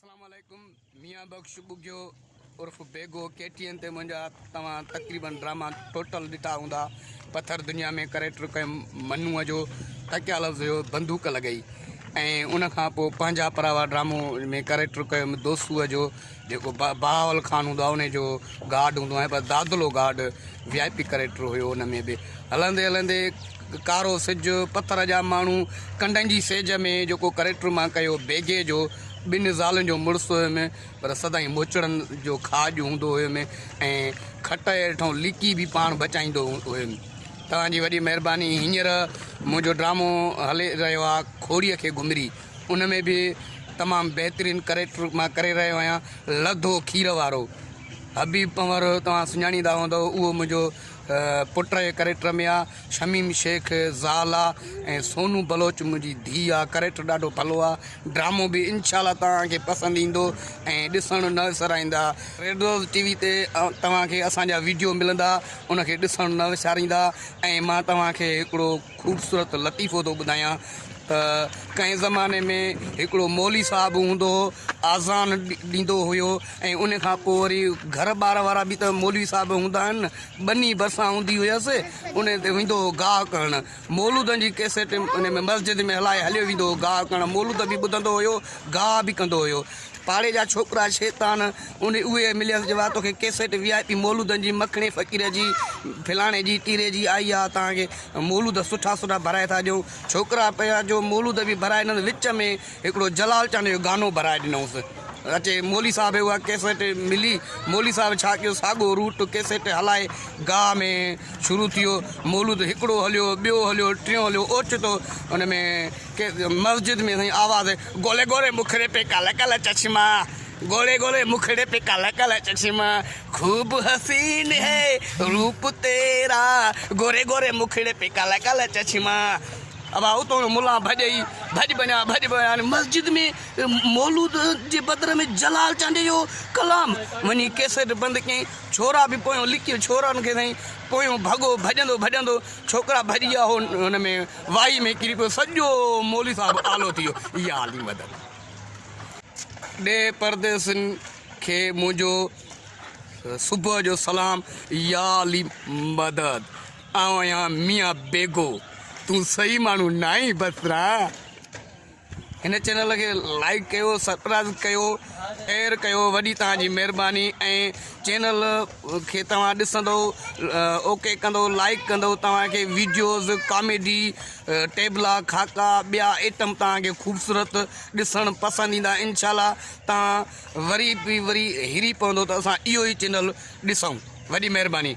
اسلام عليڪم ميان بخش ٻگهيو عرف بيگو ڪي ٽي اين تي منهنجا توهان تقريبن ڊراما ٽوٽل ڏٺا هوندا پٿر دنيا ۾ ڪريڪٽر ڪيم منوء جو تڪيا لفظ هيو بندوق لڳئي ۽ ان کان پوء پنهنجا پراوا ڊرامو ۾ ڪريڪٽر ڪيم دوسوء جو جيڪو بهاول خان هوندو آهي ان جو گارڊ هوندو آهي پر Dadlo guard V I P character هيو ان ۾ به هلندي هلندي ڪارو سج پٿر جا ماڻهو ڪنڊن جي سيج ۾ جيڪو ڪريڪٽر مان ڪيو بيگي جو ٻن زالن جو مڙس هيم پر سدائين موچڙن جو کاڄ هوندو هيم ۽ کٽ هيٺون ليڪي به پاڻ بچائيندو هيم توهان جي وڏي مهرباني هينئر منهنجو ڊرامو هلي رهيو آهي کوڙيء کي گهمري ان ۾ به تمام بهترين ڪريڪٽر مان ڪري رهيو آهيان لڌو کير وارو حبيب پنور توهان سڃاڻيندا هوندؤ اهو منهنجو پٽ جي ڪريڪٽر ۾ آ شميم شيخ زال آ ۽ سونو بلوچ منهنجي ڌي آ ڪريڪٽر ڏاڍو ڀلو آ ڊرامو به انشاء الله توهان کي پسند ايندو ۽ ڏسڻ نه وسرائيندا ريڊوز ٽي وي تي توهان کي اسان جا ويڊيو ملندا ان کي ڏسڻ نه وساريندا ۽ مان توهان کي هڪڙو خوبصورت لطيفو ٿو ٻڌايان ته ڪنهن زماني ۾ هڪڙو مولي صاحب هوندو هو آذان ڏيندو هيو ۽ ان کان پوء وري گهر ٻار وارا به ته مولوي صاحب هوندا آهن نه ٻني ڀرسان هوندي هيس ان تي ويندو هو گاهه ڪرڻ مولودن جي ڪيسٽ ان ۾ مسجد ۾ هلائي هليو ويندو هو گاهه ڪرڻ مولود به ٻڌندو هيو گاهه به ڪندو هيو پاڙي جا ڇوڪرا شيطان ان اهي مليس جو آ توکي ڪيسيٽ وي آء پي مولودن جي مکڻي فقير جي فلاڻي جي ٽيري جي آئي آ توهان کي مولود سٺا سٺا ڀرائي ٿا ڏيون ڇوڪرا پيا جو مولود به ڀرائي ڏنس وچ ۾ هڪڙو جلال چانڊيو جو گانو ڀرائي ڏنوس اچي مولي صاحب کي اها ڪيسيٽ ملي مولي صاحب ڇا ڪيو ساڳو روٽ ڪيسيٽ هلائي گاهه ۾ شروع ٿيو مولود هڪڙو هليو ٻيو هليو ٽيون هليو اوچتو ان ۾ مسجد ۾ سائين آواز گولي گولي مکڙي پي ڪالا ڪالا چشما گولي گولي مکڙي پي ڪالا ڪالا چشما خوب حسين هي روپ تيرا گولي گولي مکڙي پي ڪالا ڪالا چشما ابا اتو ملا ڀڄئي ڀڄ بنيا ڀڄ بنيا مسجد ۾ مولود جي بدر ۾ جلال چانڊي جو ڪلام وني ڪيسيٽ بند ڪي ڇورا به پويو لڪي ڇورا ان کي سائين پويو ڀڳو ڀڄندو ڀڄندو ڇوڪرا ڀڄي ويا هو ان ۾ وائي ۾ ڪري پيو سڄو مولوي صاحب آلو ٿي ويو يا علي مدد ڏي پرديسين کي منهنجو صبح جو سلام يا علي مدد آئون آهيان ميان بيگو تون صحيح ماڻهو ناهين بسرا. هن چينل کي لائيڪ ڪيو سبسڪرائيب ڪيو اير ڪيو وڏي توهان جي مهرباني ۽ چينل کي توهان ڏسندو اوڪي ڪندو لائيڪ ڪندو توهان کي ويڊيوز ڪاميڊي ٽيبلا خاڪا ٻيا آئٽم توهان کي خوبصورت ڏسڻ پسند ايندا انشاء الله توهان وري به وري هري پوندو ته اسان اهو ئي چينل ڏسون وڏي مهرباني